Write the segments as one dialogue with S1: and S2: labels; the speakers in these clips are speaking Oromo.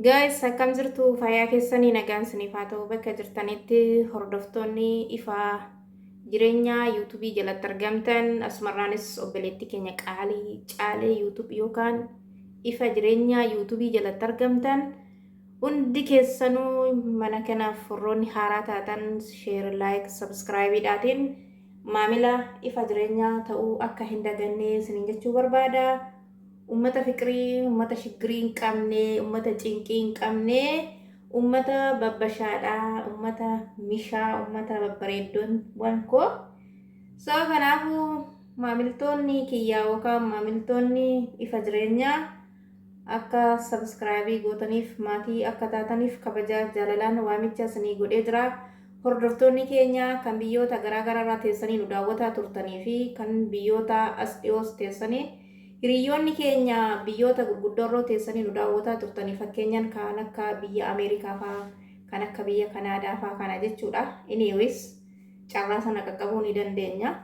S1: Guys, akkam jirtu fayyaa keessanii nagaan isiniif haa ta'u bakka jirtanitti hordoftoonni ifaa jireenyaa yuutuubii jalatti argamtan asumarraanis obboleetti keenya qaalii caalee yuutuubii yookaan ifa jireenyaa yuutuubii jalatti argamtan Hundi keessanuu mana kanaaf warroonni haaraa taatan share, like, subscribe dhaatiin maamila ifa jireenyaa ta'uu akka hin daganne isiniin jechuu barbaada. Ummata fiqirii, ummata shiggirii hin qabne, ummata cinqii hin qabne, ummata babbashaadha, ummata mishaa, ummata babbareeddoon waan koo. So kanaafuu maamiltoonni kiyyaa yookaan maamiltoonni ifa jireenyaa Akka subscribe gootaniif maatii akka taataniif kabajaa jaalalaan waamicha isinii godhee jira. Hordoftoonni keenya kan biyyoota garaa garaarraa teessanii nu daawwataa turtanii fi kan biyyoota as dhiyoos teessanii hiriyoonni keenya biyyoota gurguddoorroo teessanii nu daawwataa turtanii fakkeenyaan kan akka biyya Ameerikaa faa kan akka biyya Kanaadaa faa kana jechuudha. Anyways carraa sana qaqqabuu ni dandeenya.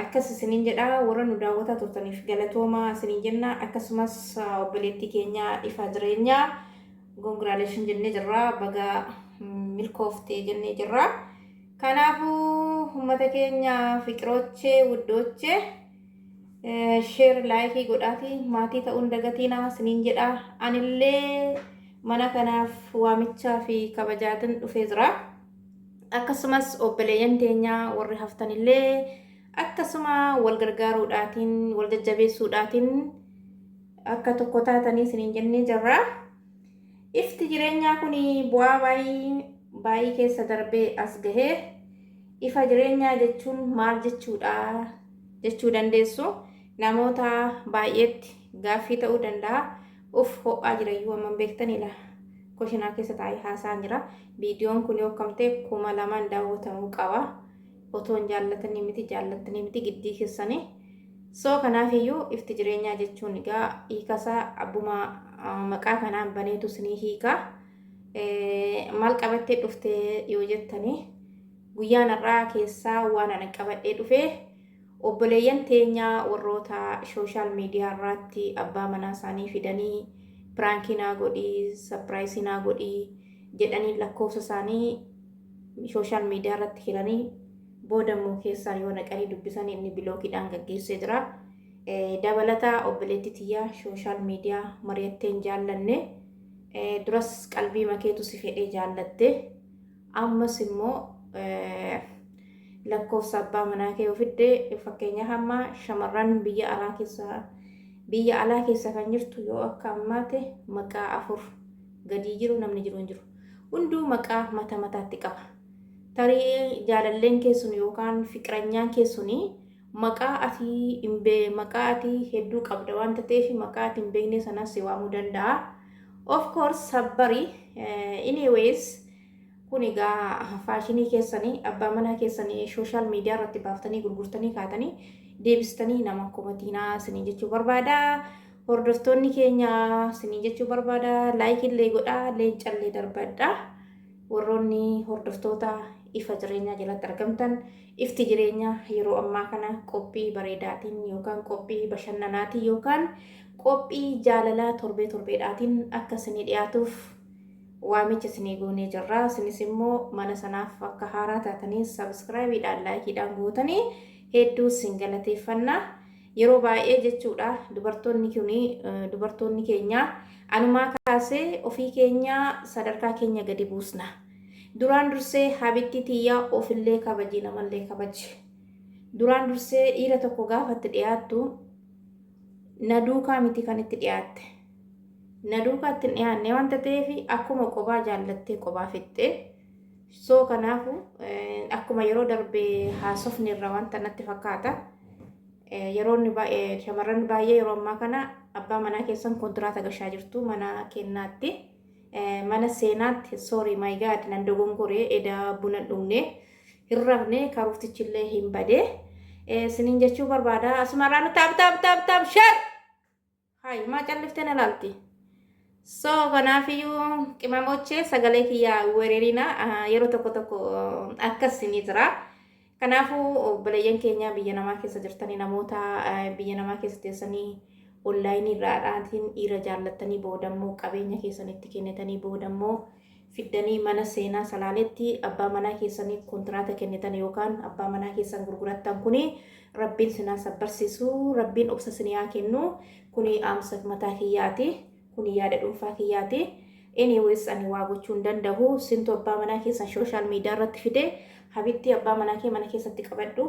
S1: Akkas isiniin jedha, warra nu daawwataa turtaniif galatooma isiniin jenna. Akkasumas obboleettii keenya ifaa jireenyaa congratulations jennee jirra. Baga milkoofte jennee jirra. Kanaafuu uummata keenya fiqiroochee wuddoochee sheer laayikii godhaatii maatii ta'uun dagatiinaa isiniin jedha. Anillee mana kanaaf waamichaa fi kabajaatin dhufee jira. akkasumas obboleeyyan teenya warri haftanillee akkasuma wal gargaaruudhaatiin wal jajjabeessuudhaatiin akka tokko taatanii isiniin jennee jirra. Ifti jireenyaa kun bu'aa baay'ee baay'ee keessa darbee as gahee ifa jireenyaa jechuun maal jechuudha jechuu dandeessu namoota baay'eetti gaaffii ta'uu danda'a. Uff ho'aa jira iyyuu amman beektanii laa koshinaa keessa taa'ee haasaan jira viidiyoon kun yoo kam ta'e kuma lamaan daawwatamuu qaba otoon jaallatanii miti jaallattanii miti giddii keessanii soo kanaaf iyyuu ifti jireenyaa jechuun egaa hiikasaa abbuma maqaa kanaan baneetu sinii hiikaa maal qabattee dhuftee yoo jettanii guyyaan har'aa keessaa waan ana qabadhee dhufee Obboleeyyan teenya warroota social media irraatti abbaa manaa isaanii fidanii piraankii naa godhi, sapiraayisii naa godhi jedhanii lakkoofsa isaanii social media irratti hiranii booda immoo keessaa yoo naqanii dubbisan inni bilookiidhaan gaggeessee jira. Dabalata obboleetti tiyya social media mari'atteen jaallanne duras qalbii makeetu si fedhee jaallatte. Ammas immoo lakkoofsa abbaa manaa kee ofidde fakkeenyaaf amma shamarran biyya alaa keessa biyya alaa keessa kan jirtu yoo akka ammaate maqaa afur gadii jiru namni jiru hin jiru. Hunduu maqaa mata mataatti qaba. Tarii jaalalleen keessun yookaan fiqiranyaan keessun Maqaa ati hin be maqaa ati hedduu qabda waan tateefi maqaa ati hin beeknee sanan si waamuu danda'a. Of course sabbari anyways kun egaa faashinii keessani abbaa manaa keessani social media irratti baaftanii gurgurtanii kaatanii deebistanii naman komatiinaa sinin jechuu barbaada. Hordoftoonni keenya sinin jechuu barbaada. Like illee godhaa leencallee darbadha. Warroonni hordoftoota ifa jireenyaa jalatti argamtan ifti jireenyaa yeroo ammaa kana qophii bareedaatiin yookaan qophii bashannanaatiin yookaan qophii jaalalaa torbee torbeedhaatiin akka isinii dhiyaatuuf waamicha isinii goonee jirra. Isinis immoo mana sanaaf akka haaraa taatanii sabiskiraayibiidhaan laayikiidhaan gootanii hedduu isin galateeffanna. Yeroo baay'ee jechuudha dubartoonni kuni dubartoonni keenya anumaa kaasee ofii keenya sadarkaa keenya gadi buusna. Duraan dursee habittii tiyya ofillee kabaji namallee kabaji. Duraan dursee dhiira tokko gaafa itti dhiyaattu na duukaa miti kan itti dhiyaatte. Na duukaa itti hin dhiyaanne waan ta'eef akkuma qobaa jaallattee qobaa fixxe So kanaafu akkuma yeroo darbe haasofne irraa wanta natti fakkaata. Yeroo inni baay'ee shamarran baay'ee yeroo ammaa kana abbaa manaa keessan kontiraata gashaa jirtu mana kennaatti. Mana seenaatti sorry my god nan dogongoree edaa buna hin dhugne hin rafne karuuftichillee hin bade. Sinin jechuu barbaada. Asumarraa nu taap taap taap taap share! Hay maa calliftee na laalti. So kanaafiyyuu qimamochee sagalee kiyyaa weererina yeroo tokko tokko akkas ni jira. Kanaafuu obboleeyyan keenya biyya namaa keessa jirtanii namoota biyya namaa keessa teessanii onlaayinii irraa dhaatiin dhiira jaallattanii boodammoo qabeenya keessanitti kennitanii boodammoo fiddanii mana seenaa salaaletti abbaa manaa keessaniif kontiraata kennitan yookaan abbaa manaa keessan gurgurattan kuni rabbiin sin haa sabbarsiisu rabbiin obsa sin haa kennu kuni dhaamsa mataa kiyyaati kuni yaada dhuunfaa kiyyaati anyways ani waa gochuu hin danda'u sintu abbaa manaa keessan social media irratti fide habibtii abbaa manaa kee mana keessatti qabadhu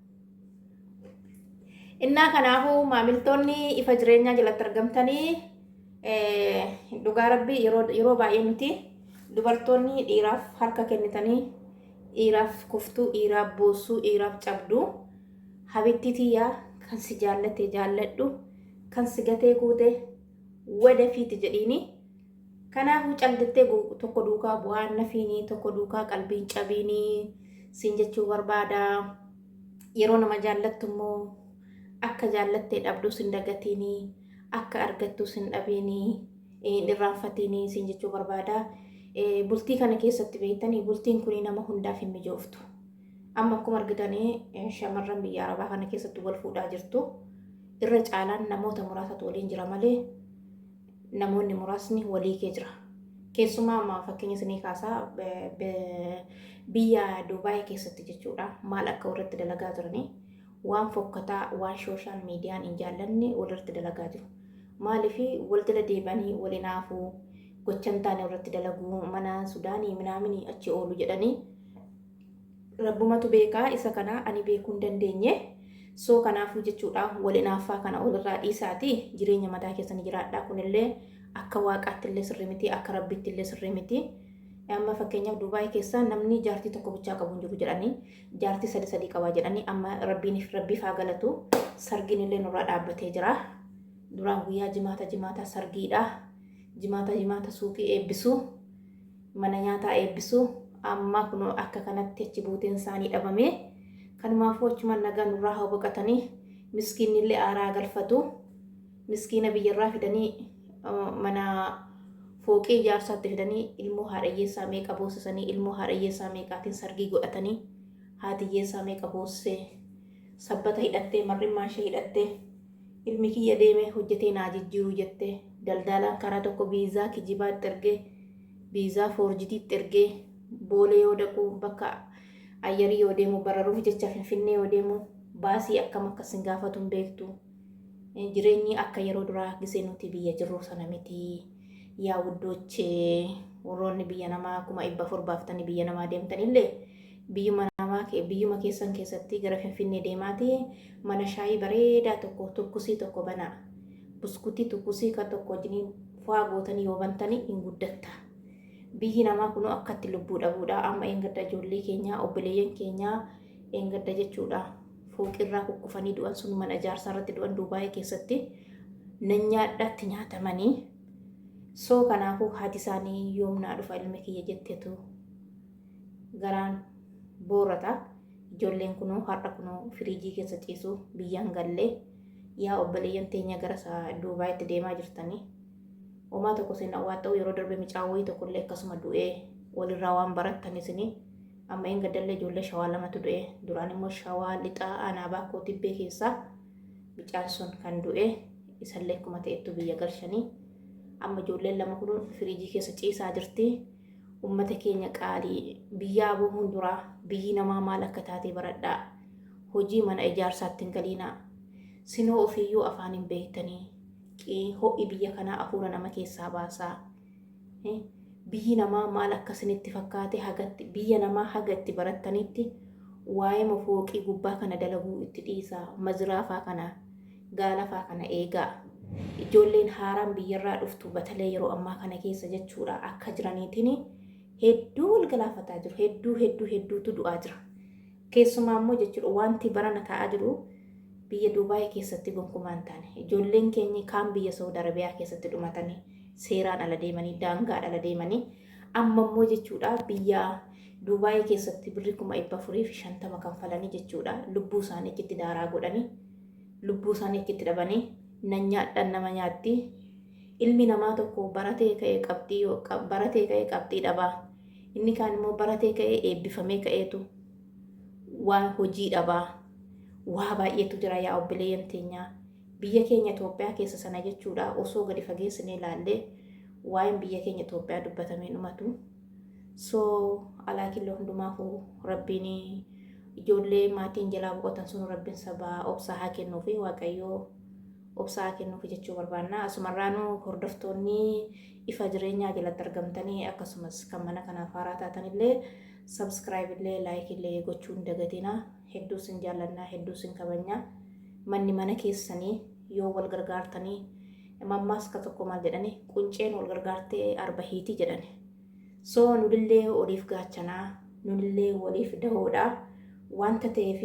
S1: Innaa kanaafuu maamiltoonni ifa jireenyaa jalatti argamtanii dhugaa rabbii yeroo baay'ee nuti dubartoonni dhiiraaf harka kennitanii dhiiraaf kuftuu dhiiraaf boossuu dhiiraaf cabduu habittii tiyyaa kan si jaallatte jaalladhu kan si gatee kuute wadafiiti jedhiini Kanaafuu callittee tokko duukaa bu'aan nafiini, tokko duukaa qalbiin cabiini siin jechuu barbaada. Yeroo nama jaallattu immoo akka jaallattee dhabduus hin dagatiini, akka argattuus hin dhabiini, hin irraanfatiini siin jechuu barbaada. Bultii kana keessatti beektanii bultiin kun nama hundaaf hin mijooftu. Amma akkuma argitanii shamarran biyya arabaa kana keessatti wal fuudhaa jirtu. Irra caalaan namoota muraasatu waliin jira malee namoonni muraasni walii kee jira. Keessumaa amma fakkeenya isinii kaasaa biyya Duubaayii keessatti jechuudha maal akka walirratti dalagaa jiranii waan fokkataa waan sooshaal miidiyaan hin jaallanne walirratti dalagaa jiru. Maaliif wal jala deebanii wal hinaafuu gochan taane walirratti dalaguu mana sudaanii minaaminii achi oolu jedhanii Rabbumatu beeka isa kana ani beekuu hin dandeenye. So kanaafuu jechuudha wal inaaffaa kana walirraa dhiisaatii jireenya mataa keessanii jiraadhaa kunillee akka waaqaatti illee sirrii miti akka rabbiitti illee sirrii miti. Amma fakkeenyaaf Dubaay keessaa namni jaartii tokko bichaa qabu hin jiru jedhanii jaartii sadi sadii qabaa jedhanii amma rabbiin rabbiif haa galatu sargiin illee nurraa dhaabbatee jira. Duraan guyyaa jimaata jimaata sargiidha. Jimaata jimaata suuqii eebbisuu. mana nyaataa eebbisu amma kunoo akka kanatti achi buuteen isaanii dhabame kanumaafuu achumaan nagaa nurraa haa boqatanii miskiinni illee aaraa galfatu miskiina biyyarraa fidanii mana fooqii ijaarsaatti fidanii ilmoo haadhayyeessaa meeqa boosisanii ilmoo haadhayyeessaa meeqaatiin sargii godhatanii haatiyyeessaa meeqa boossee sabbata hidhattee marrimmaa ishee hidhattee Ilmi kiyya deemee hojjetee naa jijjiiru jette. Daldaalaan karaa tokko viizaa kijibaa itti ergee, viizaa foorjidii itti ergee, Boolee yoo dhaqu, bakka ayyarii yoo deemu, bararuuf jecha Finfinnee yoo deemu baasii akkam akka isin gaafatu hin beektu. Jireenyi akka yeroo duraa gisee nuti biyya jirru sana miti. Yaa wuddoochee warroonni biyya namaa kuma dhibba afur baaftanii biyya namaa deemtanillee Biyyuma namaa kee biyyuma keessan keessatti gara Finfinnee deemaati mana shaayii bareedaa tokko tukkusii tokko banaa. Buskutii tukkusii kan tokko wajjiniin faa gootanii yoo bantanii hin guddatta. Biyyi namaa kunoo akkatti lubbuu dhabuudha. Amma eengadda ijoollee keenyaa obboleeyyan keenyaa eengadda jechuudha. Fooqirraa kukkufanii du'an sun mana ijaarsaa irratti du'an Duubaayii keessatti nanyaadhaatti nyaatamanii soo kanaafuu haati isaanii yoomnaa dhufa ilmi kiyya jettetu garaan boorata ijoolleen kunoo har'a kunoo firiijii keessa ciisu biyyaan gallee yaa obboleeyyan teenya gara isaa duubaayitti deemaa jirtanii homaa tokko seenaa waan ta'u yeroo darbe micaan wayii tokkollee akkasuma du'ee walirraa waan barattan isinii amma hin gaddalle ijoollee shawaa lamatu du'e duraan immoo shawaa lixaa aanaa baakoo tibbee keessaa micaan sun kan du'e isallee akkuma ta'ettu biyya galchanii amma ijoolleen lama kun firiijii keessa ciisaa jirti. Ummata keenya qaalii, biyyaa bohuun dura biyyi namaa maal akka taate baradhaa. Hojii mana ijaarsaatti hin galiinaa. Sinoo ofiiyyuu afaan hin beektanii. Qii, ho'i biyya kanaa afuura nama keessaa baasa. Eh, Biyyi namaa maal akka isinitti fakkaate hagatti biyya namaa haga itti barattaniitti waa'eema fooqii gubbaa kana dalaguu itti dhiisaa. Maziraafaa kana gaalafaa kana eegaa. Ijoolleen haaraan biyyarraa dhuftu batalee yeroo ammaa kana keessa jechuudha akka jiraniitiin hedduu wal galaafataa jiru. Hedduu hedduu hedduutu du'aa jira. Keessumaa immoo jechuudha wanti barana ta'aa jiru biyya Duubaayii keessatti gonkumaa hin taane. Ijoolleen keenya kaan biyya Saawud Arabiyaa keessatti dhumatanii seeraan ala deemanii daangaan ala deemanii amma immoo jechuudha biyya Duubaayii keessatti birri kuma dhibba afurii fi shantama kanfalanii jechuudha lubbuu isaanii achitti daaraa godhanii lubbuu isaanii achitti dhabanii nan nyaadhaan nama nyaatti ilmi namaa tokko baratee ka'ee qabxii baratee ka'ee qabxii dhabaa inni kaan immoo baratee ka'ee eebbifamee ka'eetu waa hojii dhabaa waa baay'eetu jira yaa obboleeyyan teenyaa biyya keenya Itoophiyaa keessa sana jechuudha osoo gadi fageessinee ilaallee waa'een biyya keenya Itoophiyaa dubbatamee dhumatu. So alaa killo hundumaafu rabbiin ijoollee maatiin jalaa boqotan sunu rabbiin sabaa obsaa haa kennuufi waaqayyoo obsaa haa kennuufi jechuu barbaanna. Asumarraanu hordoftoonni ifa jireenyaa jalatti argamtanii akkasumas kan mana kanaaf haaraa taatanillee sabskiraayib illee laayik illee gochuu hin dagatina. Hedduu sin jaallannaa hedduu sin kabajna. Manni mana keessanii yoo wal gargaartanii Mammaaska tokko maal jedhani qunceen wal gargaartee arba hiiti jedhani. So nulillee waliif gaachanaa, nulillee waliif dahoodha. Wanta ta'eef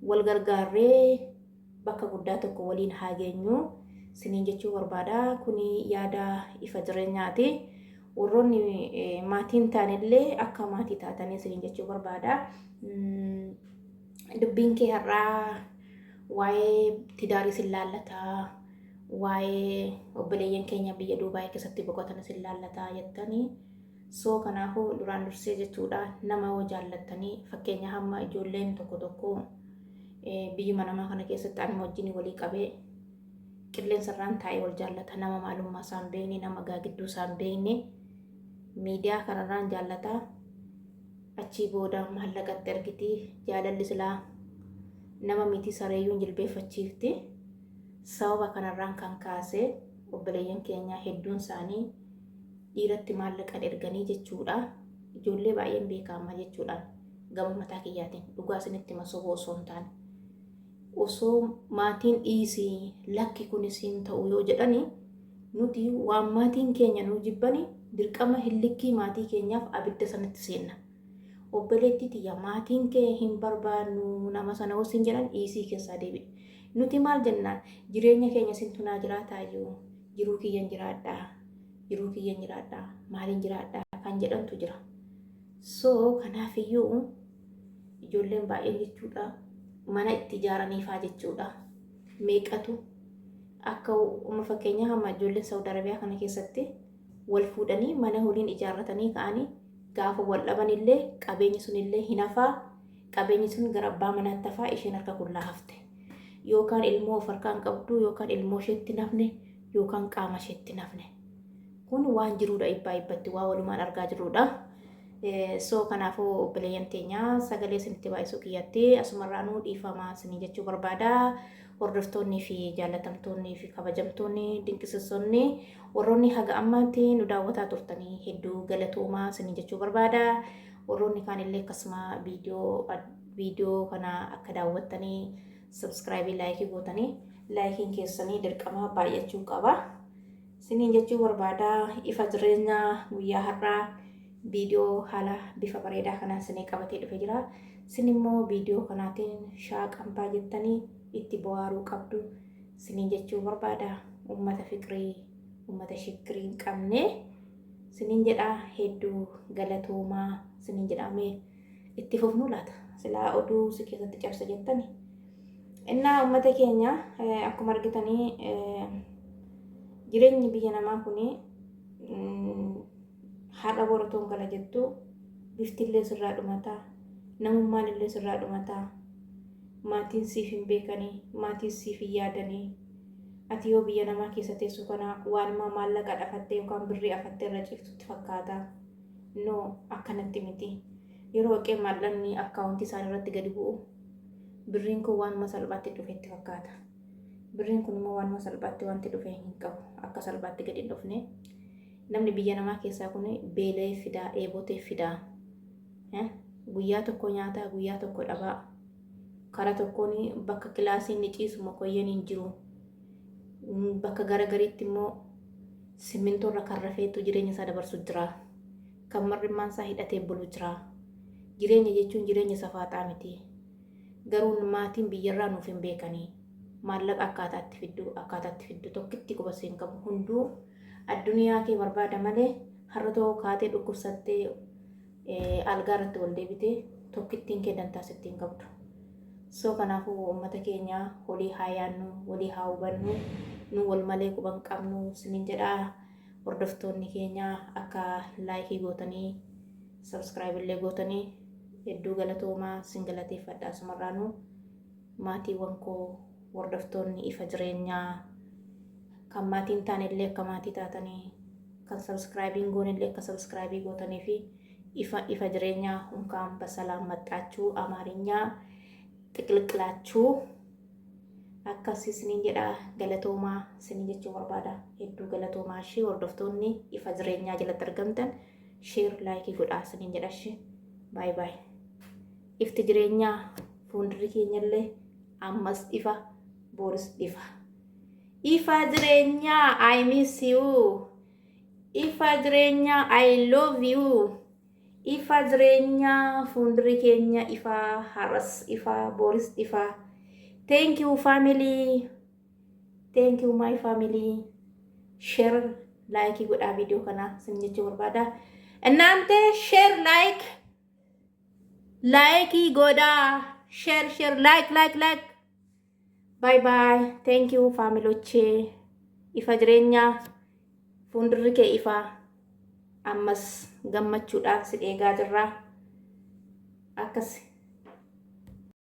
S1: wal gargaarree bakka guddaa tokko waliin haa geenyu siniin jechuu barbaada. Kuni yaada ifa jireenyaati. Warroonni maatiin taanillee akka maatii taatanii siniin jechuu barbaada. Dubbiin kee har'aa waa'ee tidaarii sin laallata, waa'ee obboleeyyan keenya biyya Duubaay keessatti boqotan sin laallata jettanii soo kanaafuu duraan dursee jechuudha nama yoo jaallattanii fakkeenya hamma ijoolleen tokko tokko eh, biyyuma namaa kana keessatti anuma wajjin walii qabee qilleensa irraan taa'ee wal jaallata nama maalummaa isaan beekne nama gaagidduu isaan beekne miidiyaa kanarraan jaallata achii booda maallaqatti argiti jaalalli silaa nama miti sareeyyuun jilbeeffachiifti sababa kanarraan kan kaase obboleeyyan keenya hedduun isaanii dhiiratti maallaqan erganii jechuudha ijoollee baay'een beekamaa jechuudhaan gama mataa kiyyaatiin dhugaa isinitti masoboo osoo hin taane osoo maatiin dhiisii lakki kunis hin ta'u yoo jedhani Nuti waan maatiin keenya nu jibbani dirqama hillikkii maatii keenyaaf abidda sanatti seenna. Obboleettii tiyya maatiin kee hin barbaannu nama sana hoo siin jedhan dhiisii keessaa deebi'i. Nuti maal jennaan jireenya keenya sintu naa jiraataayyuu jiruu kiyyan jiraadhaa jiruu kiyyan jiraadhaa maaliin jiraadhaa kan jedhantu jira. So kanaafiyyuu ijoolleen baay'een jechuudha mana itti ijaaraniifaa jechuudha. meeqatu akka uma fakkeenyaa hamma ijoolleen Saawud Arabiyaa kana keessatti wal fuudhanii mana holiin ijaarratanii ka'anii gaafa wal dhabanillee qabeenyi sunillee hin hafaa qabeenyi sun gara abbaa manaatti hafaa isheen harka qullaa hafte yookaan ilmoo of harkaan qabdu yookaan ilmoo isheetti nafne yookaan qaama isheetti nafne Kun waan jiruudha dhibbaa dhibbatti waa walumaan argaa jirruudha. So kanaafuu obboleeyyan teenya sagalee isinitti baay'isuu kiyyatti asumarraanuu dhiifamaa isinii jechuu barbaada. Hordoftoonnii fi jaallatamtoonnii fi kabajamtoonni dinqisiisonni warroonni haga ammaatti nu daawwataa turtanii hedduu galatoomaa isinii jechuu barbaada. Warroonni kaanillee akkasuma viidiyoo kana akka daawwattanii sabskraayibii laayikii gootanii laayikiin keessanii dirqama baay'achuu qaba. Siniin jechuu barbaada ifa jireenya guyyaa har'aa viidiyoo haala bifa bareedaa kanaan sinii qabatee dhufe jira. Sin immoo viidiyoo kanaatiin shaaqampaa jettanii itti bohaaruu qabdu siniin jechuu barbaada. Uummata fiqirii, uummata shikkirii hin qabne siniin jedhaa hedduu galatoomaa siniin jedhaamee. Itti fufnuu laata? Silaa oduu si keessatti cabsa jettani. Innaa uummata keenya eh, akkuma argitanii eh, jireenyi biyya namaa kun mm, har'a boratoon gala jettu bifti illee sirraa dhumataa namummaan illee sirraa dhumataa maatiin siif hin beekanii maatiin siif hin yaadanii ati yoo biyya namaa keessa teessu kana waanumaa maallaqa dhafattee yookaan birrii afattee irra ciiftutti fakkaata. No, akkanatti miti. Yeroo haqee maallaqni akkaawuntii isaanii irratti gadi bu'u, birriin kun waanuma salphaatti dhufe itti fakkaata. Birriin kun immoo waanuma salphaatti wanti dhufe hin qabu. Akka salphaatti gadi hin dhufne. Namni biyya namaa keessaa kun beela'ee fidaa, dheebotee fidaa. Eh, Guyyaa tokko nyaataa, guyyaa tokko dhabaa. Karaa tokkoon bakka kilaasii inni ciisu mokoyyeen hin jiru. Bakka gara gariitti immoo simmintoo irra kan rafeetu jireenya isaa dabarsu jira. Kan mar'immaan isaa hidhatee bulu jira. Jireenya jechuun jireenya safaaxaa miti. Garuu maatiin biyyarraa nuuf hin beekanii. Maallaqa akkaataa itti fiddu, akkaataa itti fiddu tokkitti quba siin qabu. Hunduu addunyaa kee barbaada malee har'a too kaatee dhukkubsattee algaa irratti wal deebite tokkittiin kee dantaa sitti hin qabdu. So kanaafuu uummata keenya holii haa yaannu, walii haa hubannu, nu wal malee quba hin qabnu sinin jedhaa hordoftoonni keenya akka laayikii gootanii sabskiraayib illee gootanii hedduu galatoomaa sin galateeffadha asumarraanuu. Maatiiwwan koo hordoftoonni ifa jireenyaa kan maatii hin taane illee akka maatii taatanii kan subscribe hin goone illee akka subscribe gootanii fi ifa ifa jireenyaa hunkaan basalaam maxxaachuu amaarinyaa xiqliqlaachuu akkas isiniin jedha galatoomaa isiniin jechuu barbaada hedduu galatoomaa ishee hordoftoonni ifa jireenyaa jalatti argamtan sheer laayikii godhaa isiniin jedha ishee baay baay. Ifti jireenyaa fuundurri keenyallee ammas ifa booris ifa. Ifa jireenyaa I miss you. Ifa jireenyaa I love you. Ifa jireenyaa fuundurri keenya ifa har'as ifa booris ifa. Thank you family. Thank you my family. Share like godhaa viidiyoo kana sin jechuu barbaada. Innaante share like Laayikii godhaa. Share share like like like. Bye bye. Thank you faamilochee. Ifa jireenyaa fuuldurri kee ifa. Ammas gammachuudhaan si eegaa jirra. Akkasi.